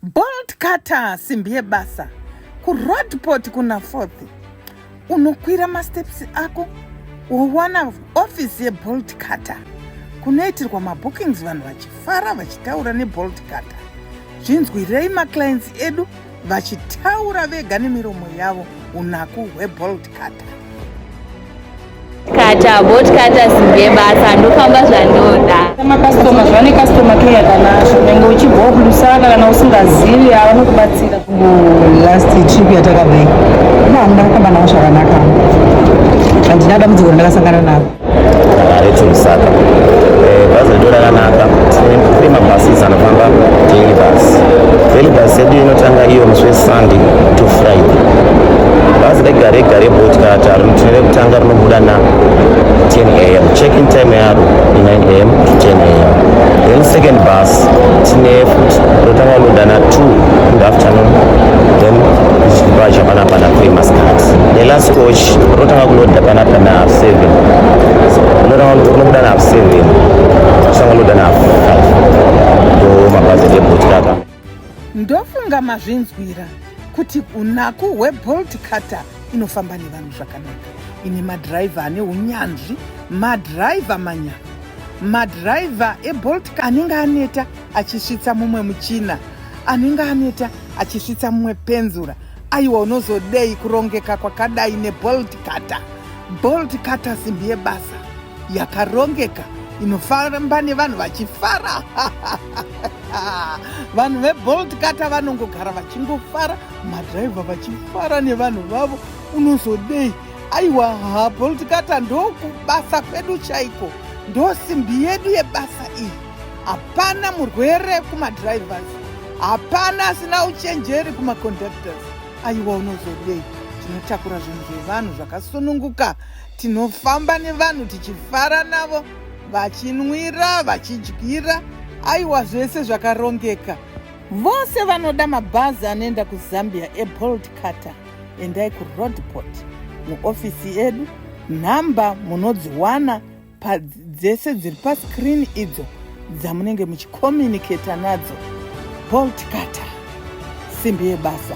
Bolt cutter simbi yebasa kuroadport kuna fourth unokwira masteps ako wowana office yebolt cutter kunoitirwa mabookings vanhu vachifara vachitaura nebolt cutter zvinzwirei maclients edu vachitaura vega nemiromo yavo unaku hwebolt cutter kata bot kata simbe basa ndofamba zvandoda makastoma zvane kastoma ke yakanasho unenge uchibva kulusaka kana usingazivi avanokubatsira last trip yatakadai ndahamuna kufamba navo zvakanaka handina dambudziko randakasangana navo reti lusaka eh, bhazi rido rakanaka tine mabhasis anofamba daily bus daily bus yedu inotanga iyo musi wesunday to friday bhazi regare gare botka Rutivi rekutanga rinobuda na 10 am check-in time yaro i 9 am to 10 am then second bus tine futi rotanga kunoda na 2 in the afternoon then ichibacha pana pana famous card the last coach rotanga kunoda pana pana 7 rotanga kunobuda na 7 rotanga kunoda na 5 ndo mabhazi ebhotikaka Ndofunga mazvinzwira kuti unaku hwebolt cutter inofamba nevanhu zvakanaka ine madhiraivha ane unyanzvi madhiraivha manyama madhiraivha ebolt anenge aneta achisvitsa mumwe muchina anenge aneta achisvitsa mumwe penzura aiwa unozodei kurongeka kwakadai nebolt cutter bolt cutter simbi yebasa yakarongeka inofamba nevanhu vachifara vanhu vebolt kata vanongogara vachingofara madhiraivha vachifara nevanhu vavo unozodei aiwa ha bolt kata ndokubasa kwedu chaiko ndosimbi yedu yebasa iyi hapana murwere kumadhiraivhas hapana asina uchenjeri kumaconductors aiwa unozodei tinotakura zvinhu zvevanhu zvakasununguka tinofamba nevanhu tichifara navo vachinwira vachidyira aiwa zvese zvakarongeka vose vanoda mabhazi anoenda kuzambia ebolt cutter endai kuroadport muofisi edu nhamba munodziwana dzese dziri pascreen idzo dzamunenge muchicommunicata nadzo bolt cutter simbi yebasa